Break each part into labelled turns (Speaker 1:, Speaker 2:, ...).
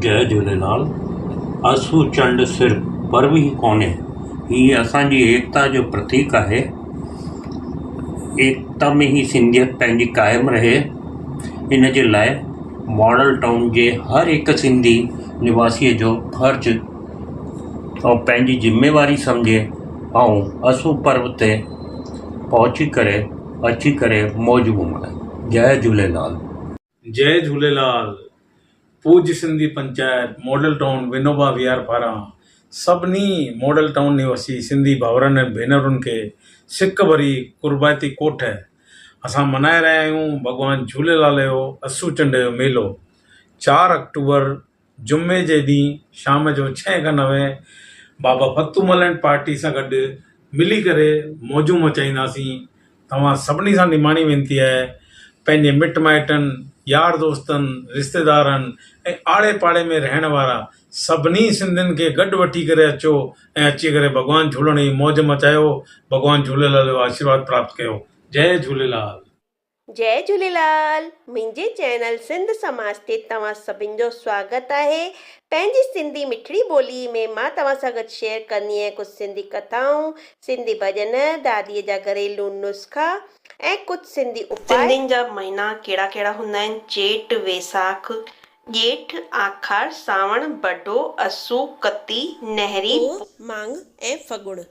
Speaker 1: جي جهوليلال اسو چنڊ صرف پرو ئي ڪونهي هي اسان جي ايڪتا جو پرتيڪ آهي ايڪتا ۾ هي سنڌيت پنهنجي قائم رهي ان جي لاء ماڊل ٽائون جي هر هڪ سنڌي نواسيء جو فرض ۽ پنهنجي ذميواري سمجهي ۽ اسون پرب تي پهچي ڪري اچي ڪري موج گهمائي جئي جهوليلال. جئي
Speaker 2: جهوليلال پوڄ سنڌي پنچائت ماڊل ٽائون ونوبا ويهار پاران سڀني ماڊل ٽائون نواسي سنڌي ڀائرن ۽ ڀينرن کي سڪ ڀري قربائتي ڪوٺ اسان منائي رهيا آهيون ڀڳوان جهوليلال جو اسو چنڊ جو ميلو چار آڪٽوبر جمعي جي ڏينهن شام جو ڇهين کن نوين بابا فتو مل اينڊ پارٽي سان گڏ ملي ڪري موجون مچائينداسين توهان سڀني سان نماڻي وينتي آهي پنهنجي مٽ مائٽن يار دوستن رشتيدارن ۽ آڙي پاڙي ۾ رهڻ وارا سڀني سنڌين کي گڏ وٺي ڪري اچو ۽ اچي ڪري ڀڳوان جهولڻ جي موج مچايو ڀڳوان جهوليلال جو آشيرواد پراپت ڪيو جئي جهوليلال. جئي
Speaker 3: جهوليلال منهنجي چينل سنڌ سماج تي توهان سڀن جو سواگت آهي پنهنجي سنڌي مٺڙي ٻولي ۾ مان توهان سان گڏ شيئر ڪندي آهيان ڪجهه سنڌي ڪٿائون سنڌي ڀڄن دادي جا گهريلو نسخا ۽ ڪجهه سنڌي اپاء. سنڌين جا مهينا ڪهڙا ڪهڙا هوندا آهن چيٽ ويساک ڄيٺ آکاڙ سانوڻ بڍو اسو ڪتي نهري پوء. ماڳ ۽ ڦڳڻ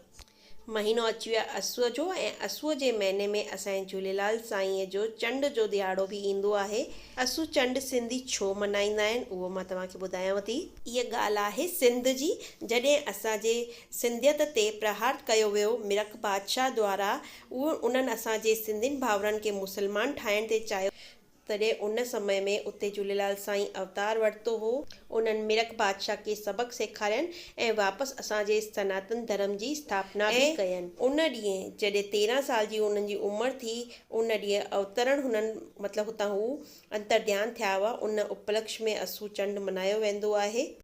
Speaker 3: مهينو اچي ويو آهي اسوء جو ۽ اسوء جي مهيني ۾ اسان جي جهوليلال سائينء جو چنڊ جو ڏهاڙو به ايندو آهي. اسو چنڊ سنڌي ڇو ملهائيندا آهن اهو مان توهان کي ٻڌايانو ٿي. اها ڳالهه آهي سنڌ جي جڏهن اسان جي سنڌيت تي پرهار ڪيو ويو مرڪ بادشاهه دوارا انهن اسان جي سنڌين ڀائرن کي مسلمان ٺاهڻ تي چاهيو تڏهن ان سمي ۾ اتي جهوليلال سائين اوتار ورتو هو. انهن مرڪ بادشاهه کي سبق سيکارين ۽ واپس اسان جي سناتن ڌرم جي اسٿاپنا به ڪين. ان ڏينهن جڏهن تيرهن سال جي انهن جي عمر ٿي، ان ڏينهن اوترڻ هنن مطلب هتان هو انتر ڌيان ٿيا هئا، ان اپلڪش ۾ اسو چنڊ منايو ويندو آهي.